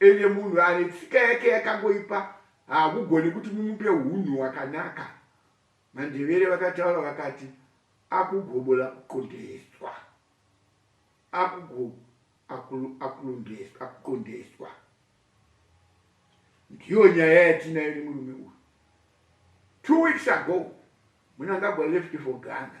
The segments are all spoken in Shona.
Ende munhu ane tsika yake yakangoipa haakugoni kuti mumupe hunhu wakanaka. Mandevere vakataura vakati akugobola kuqondeswa. Akugo akulu akulondeswa akuqondeswa. Ndiyo nyaya yatinayo nemurume uyu. Two weeks ago Munangagwa left for Ghana.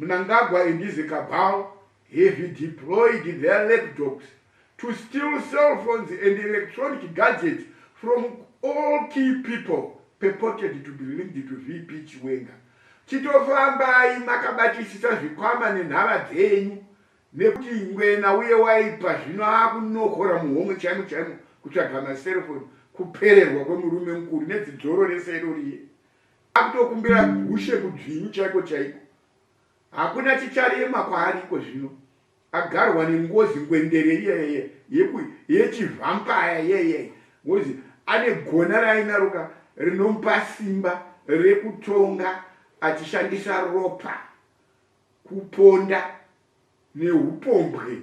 Mnangagwa and his cabal have deployed their laptops to steal cell phones and electronic gadgets from all key people purported to be linked to VP Chiwenga. Chitofambai makabatisisa zvikwama nenhava dzenyu nekuti ngwena uye waipa zvino akunokora muhomwe chaimo chaimo kutsvaga maserefoni kupererwa kwemurume mukuru nedzidzoro rese iroriye akutokumbira gushe kudzvinyu chaiko chaiko hakuna chicharema kwaari iko zvino agarwa nengozi ngwendere iyeye yechivhampaya iyeye ngozi ane gona rainaroka rinomupa simba rekutonga achishandisa ropa kuponda neupombwe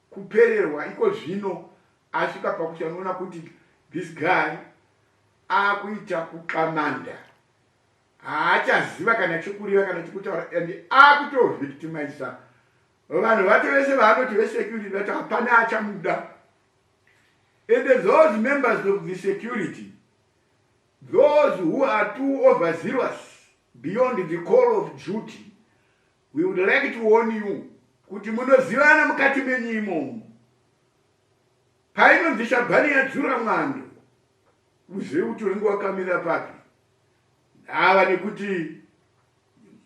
kupererwa iko zvino asvika pakuchanoona kuti this guy akuita kuxamanda haachaziva kana chekureva kana chekutaura and akutovictimisa vanhu vake vese vaanoti vesecurity vati hapana achamuda and those members of the security those who are too overzealous beyond the call of duty We would like to warn you kuti munozivana mukati menyu imomo. Painonzi shabhani yadzura mwando, uzive kuti unenge wakamira papi. Ndava nekuti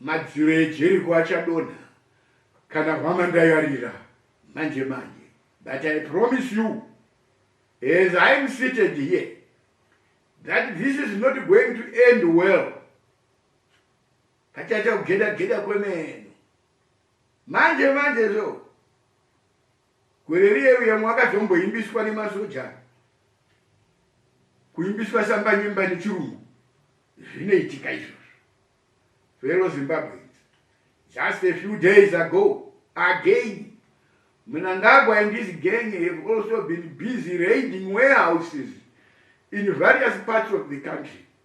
madziro ejeriko achadonha kana hwama ndayarira manje manje. But I promise you, as I am seated here, that this is not going to end well. Kachaita kugeda geda kwemene. Manje manje zvo. Gore riye uya mwakazomboimbiswa nemasoja. Kuimbiswa samba nyemba nechirungu. Zvinoitika izvo. Fellow Zimbabweans, just a few days ago, again, Mnangagwa and his gang have also been busy raiding warehouses in various parts of the country.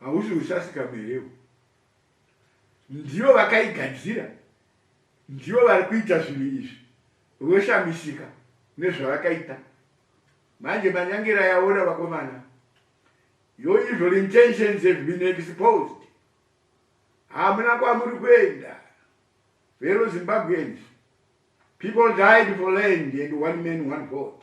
Hausi usasi kamwe here iwe? Ndivo vakaigadzira, ndivo vari kuita zvinhu izvi, voshamisika nezvavakaita. Manje manyangera yaona vakomana. Your evil intentions have been exposed. Hamuna kwamuri kuenda. Fellow Zimbabweans, people died for land and one man, one vote.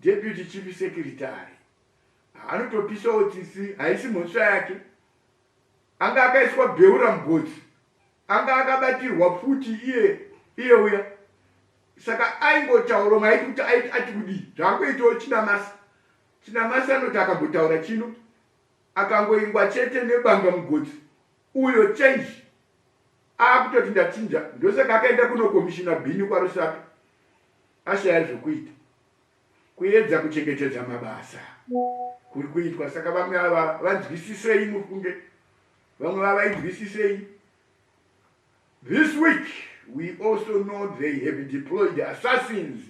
Deputy Chief Secretary anotopisawo tsitsi haisi mhosva yake anga akaiswa beura mugotsi anga akabatirwa futi iye iye uya saka aingotaura umwe aiti kuti aiti ati kudii zvaangoitawo chinamasi chinamasi anoti akambotaura chino akangoingwa chete nebanga mugotsi uyo change akutoti ndachinja ndosaka akaenda kunokomishina bhini kwarusapi ashaya zvekuita kuedza kuchengetedza mabasa kuri kuitwa saka vamwe ava vanzwisisei muri kunge vamwe vavainzwisisei this week we also know they have deployed assassins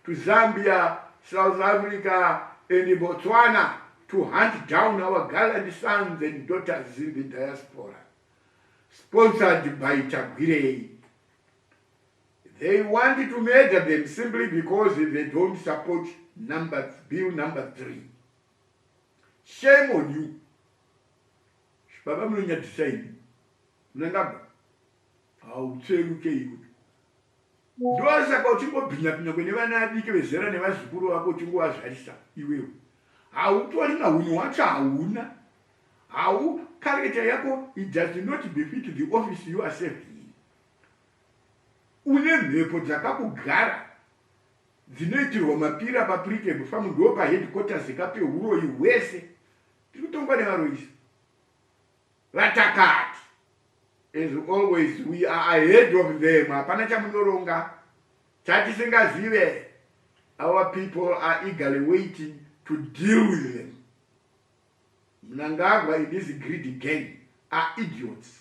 to zambia south africa and botswana to hunt down our gallant sons and daughters in the diaspora sponsored by tagwirei They want to murder them simply because they don't support number bill number three. Shame on you. Baba munonyadzisa ini. Munangaba. Hautsveruke iwe. Ndosaka uchingobhinya bhinya kune vana adiki vezera nevazukuru vako uchingovazvarisa iwewe. Hautori mahunhu wacho hauna. Hau character yako it does not befit the office you are serving. Une mhepo dzakakugara dzinoitirwa mapira pa Precab farm ndoo pa headquarters ka pehuroyi hwese tiri kutongwa nevaroyisi vatakati as always we are ahead of them hapana chamunoronga chatisingazive our people are eagerly waiting to deal with them mnangagwa and his greedy gang are idiots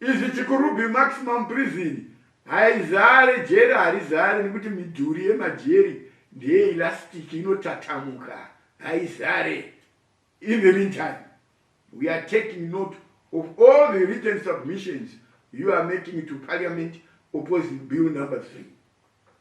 Izvi chikurubhi maximum prison haizare jeri harizare nekuti midhuri yemajeri ndeyeelastic inotatamuka haizare in the meantime we are taking note of all the written submissions you are making to parliament opposing bill number three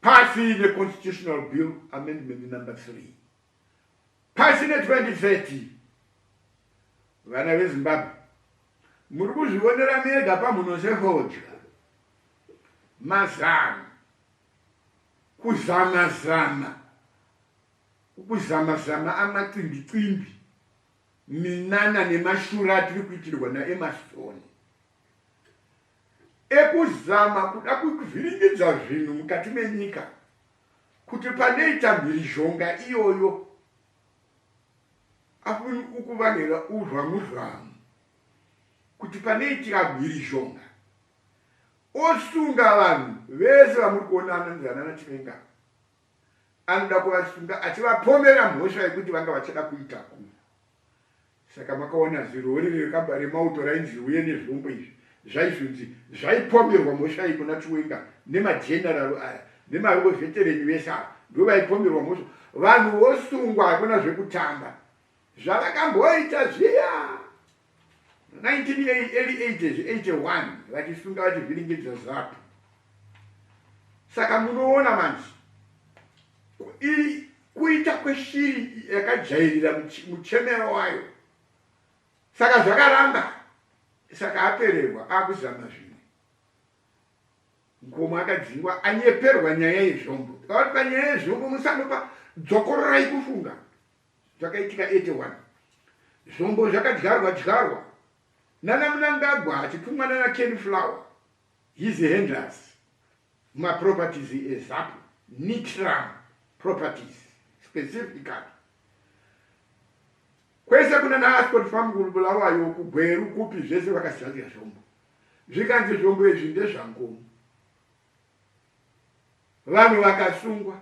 Pasi neConstitutional Bill Amendment Number 3 pasi ne 2030 vana veZimbabwe muri kuzvionera mega pamhunosehodya mazano kuzama zama kuzama zama amacimbi cimbi minana nemashura atiri kuitirwa naEmastoni ekuzama kuda kuvhiringidza zvinhu mukati menyika kuti panoita mhirizhonga iyoyo apo ukuvanhera uzvamuzvamu kuti panoitira mhirizhonga osunga vanhu vese vamuri kuonana nezanana chivenga anoda kuvasunga achivapomera mhosva yekuti vanga vachada kuitakura. Saka makaona zirori rekabha remauto rainzi riuye nezvombo izvi zvaizonzi zvaipomerwa mhosva iyi kuna Chiwenga nemajenararo aya nemaveterenyu vese ava ndivo vaipomerwa mhosva vanhu vosungwa hakuna zvekutamba zvavakamboita zviya. 1981 vachisunga vachivhiringidza zapu saka munoona manje kuita kweshiri yakajairira muchemero wayo saka zvakaramba saka apererwa akuzama zvimwe nkomo akadzingwa anyeperwa nyaya yezvombo aati panyaya yezvombo musandopa dzokororai kufunga Zvakaitika 81 zvombo zvakadyarwa dyarwa nana Mnangagwa achitumwa nana Ken Flower his handlers mumaproperties eZapu Nitram properties specifically kwese kuna naAscot Farm kuBulawayo kuGweru kupi zvese vakazadzira zvombo zvikanzi zvombo izvi ndezvangomu vanhu vakasungwa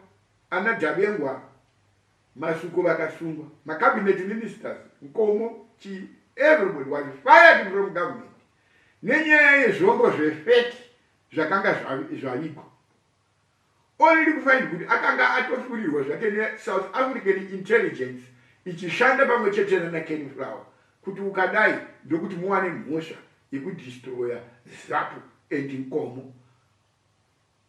ana Dabengwa Masuku vakasungwa, ma cabinet ministers, Nkomo, chii everybody was fired from government nenyaya yezvombo zvefeti zvakanga zvavigwa only kufind kuti akanga atofurirwa zvake nesouth african intelligence ichishanda pamwe chete nanaken flower kuti ukadai ndokuti muwane mhosva yekudistroya zapu and nkomo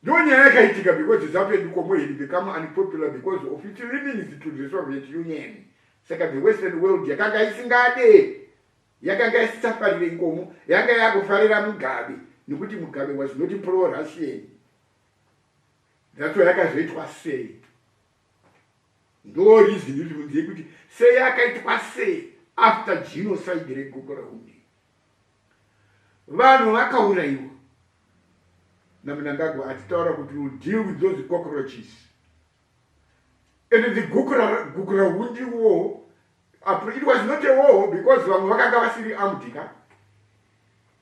Ndo nyaya yakaitika because zvapedu komwe he'd become unpopular because of its leanings to the Soviet Union. Saka the Western world yakanga isingade, yakanga isichafarire ikomo, yanga yakufarira Mugabe nekuti Mugabe was not pro-Russian. That's why yakazoitwa sei. ndo reason kuti mudziye kuti sei akaitwa sei after genocide regogo raunde vanhu vakaurayiwa namunangagwa atitaura kuti will deal with those cockroaches and the gukura hundi war it was not a war because vamwe vakanga vasiri amdika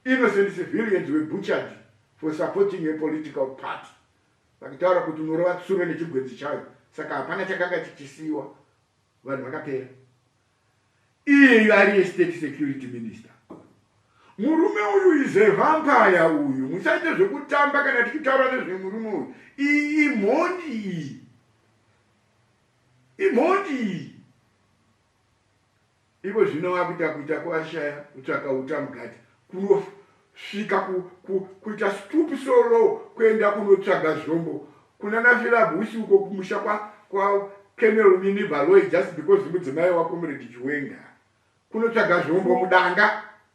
innocent civilians were butchered for supporting a political party Vakataura kuti unorova tsuro nechigwenzi chayo saka hapana chakanga chichisiiwa vanhu vakapera. Iyeyu ariye state security minister. Murume uyu is a vampire uyu. Musaite zvekutamba kana tichitaura nezvemurume uyu. Iyi imhondi iyi. Imhondi iyi. Iko zvino wakuita kuita kwashaya kutsvaka uta mugate kuno svika ku, ku, kuita stoop so low kuenda kunotsvaga zvombo kuna nafilabusi uko kumusha kwa, kwa kenel mini baloy just because mudzimai wako muredi chiwenga kunotsvaga zvombo mudanga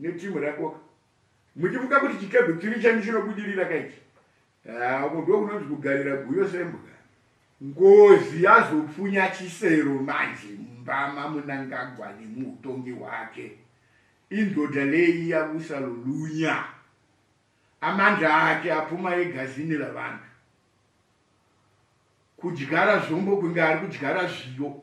ne team rako ka muchifunga kuti chikebwe chiri chenyu chinobudirira ka ichi ah, uko ndo kunonzi kugarira guyo sembwa ngozi yazopfunya chisero manje mbama munangagwa nemuutongi hwake indoda leyi yabusa lulunya amandla ake apfuma egazini ravanhu kudyara zvombo kunge ari kudyara zviyo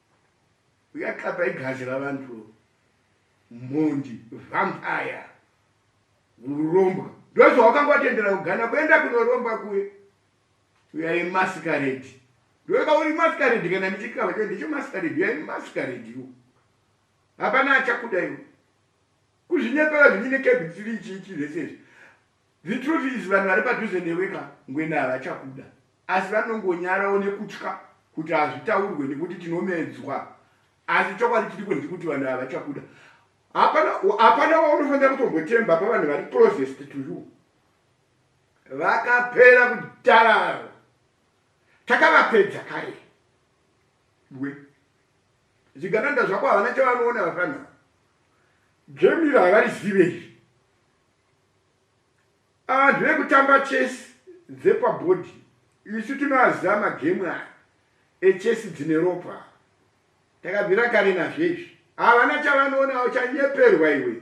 Uyakapa igazi ravantu mhondi vampire urombwa ndozvawakanga watendera kugana kuenda kunoromba kuye uyai maskaredi ndoka uri maskaredi kana ndichikava cho ndicho maskaredi uyai maskaredi iwo hapana achakuda iwo kuzvinyepera zvinyine kebhitiri ichiichi zvese izvi The truth is vanhu vari padhuze newe ka ngwena havachakuda asi vanongonyarawo nekutya kuti hazvitaurwe nekuti tinomedzwa asi chokwadi chiri kunzi kuti vanhu havachakuda hapana waunofanira kutombotemba pavanhu vari closest to you vakapera kudararo takavapedza kare we zvigananda zvako havana chavanoona vafana gemira havarizive izvi Anhu vekutamba chess dzepa body isu tinoaziva ma game aya e chess dzine ropa ava. Takabvira kare nazvo izvi. Havana chavanoona uchanyeperwa iwe.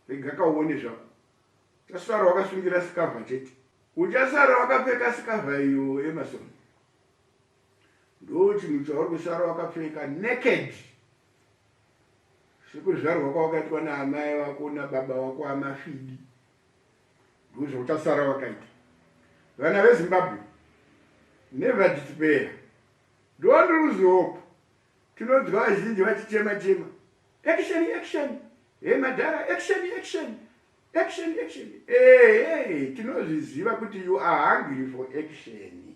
Rega ka uone zvako. Uchasara wakasungira sikavha chete. Uchasara wakapfeka sikavha iyo Emerson. Ndochinhu chauri kusara wakapfeka naked sekuzvarwa kwawakaitwa naamai vako nababa wako amafidi ndozvauchasara wakaita vana vezimbabwe never despair don't lose hope tinonzwa vazhinji vachichema chema action action hey madhara action action action action ehe tinozviziva kuti you are hungry for action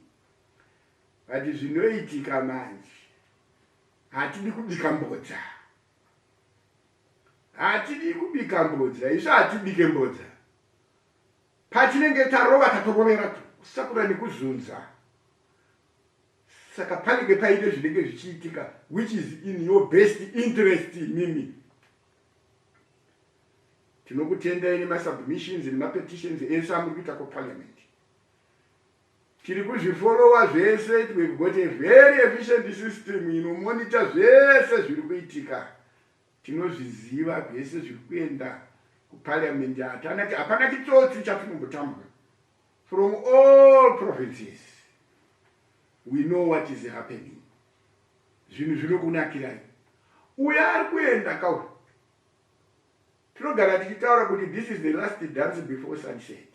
but zvinoitika manje hatidi kubika mbodza hatidi kubika mbodza isu hatibike mbodza patinenge tarova tatorovera to kusakura nekuzunza saka panenge paite zvinenge zvichiitika which is in your best interest mimi tinokutendai nemasubmissions nemapetitions ese amuri kuita kuparliament Tiri kuzvifollower zvese it will got a very efficient system inomonitor zvese zviri kuitika tinozviziva zvese zviri kuenda kuparliament hatana hapana chitsotsi chatinombotambwa from all provinces we know what is happening zvinhu zvinokunakirai uya ari kuenda kauri tinogara tichitaura kuti this is the last dance before sunset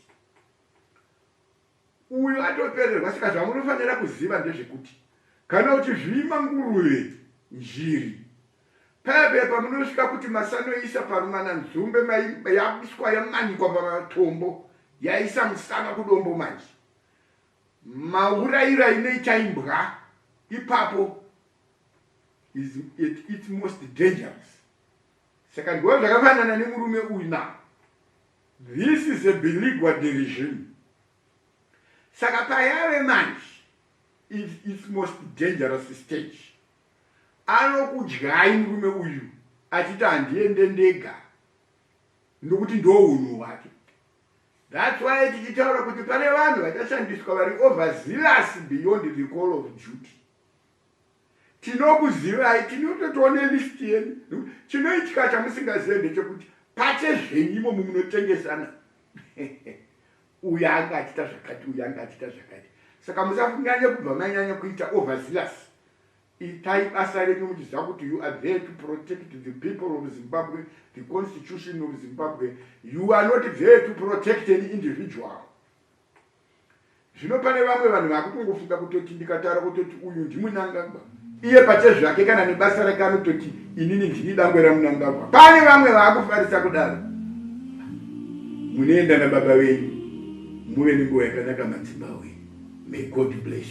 Uyu atopererwa saka zvamunofanira kuziva ndezvekuti kana uchizvima nguruve, njiri, pebe pamunosvika kuti masanoisa parumana nzombe mai yabiswa yamanikwa pamatombo yaisa musana kudombo manje mauraira inoita imbwa ipapo is it, it's most dangerous saka ndiwo zvakafanana nemurume uyu now This is a biligua de regime saka payave manje it, it's most dangerous stage anokudyai murume uyu achiti handiende ndega ndokuti ndounhu hwake thats why tichitaura kuti pane vanhu vachashandiswa vari overzealous beyond the call of duty Tinokuzivai tinototiwo nelist yenyu. Chinoitika chamusingazive ndechekuti pache zvenyu imomo munotengesana. Uyu anga achita zvakati, uyu anga achita zvakati. Saka musanyanye kubva manyanya kuita overzealous. Itai basa renyu muchiziva kuti you are there to protect the people of Zimbabwe, the constitution of Zimbabwe. You are not there to protect an individual. zvino pane vamwe vanhu vakutongofunga kutoti ndikataura kutoti uyu ndimunangagwa iye pachezvake kana nebasa rake anototi inini ndini dangwe ramunangagwa pane vamwe vaakufarisa kudaro munoenda nababa venyu muve nenguva yakanaka madzimba wenyu may god bless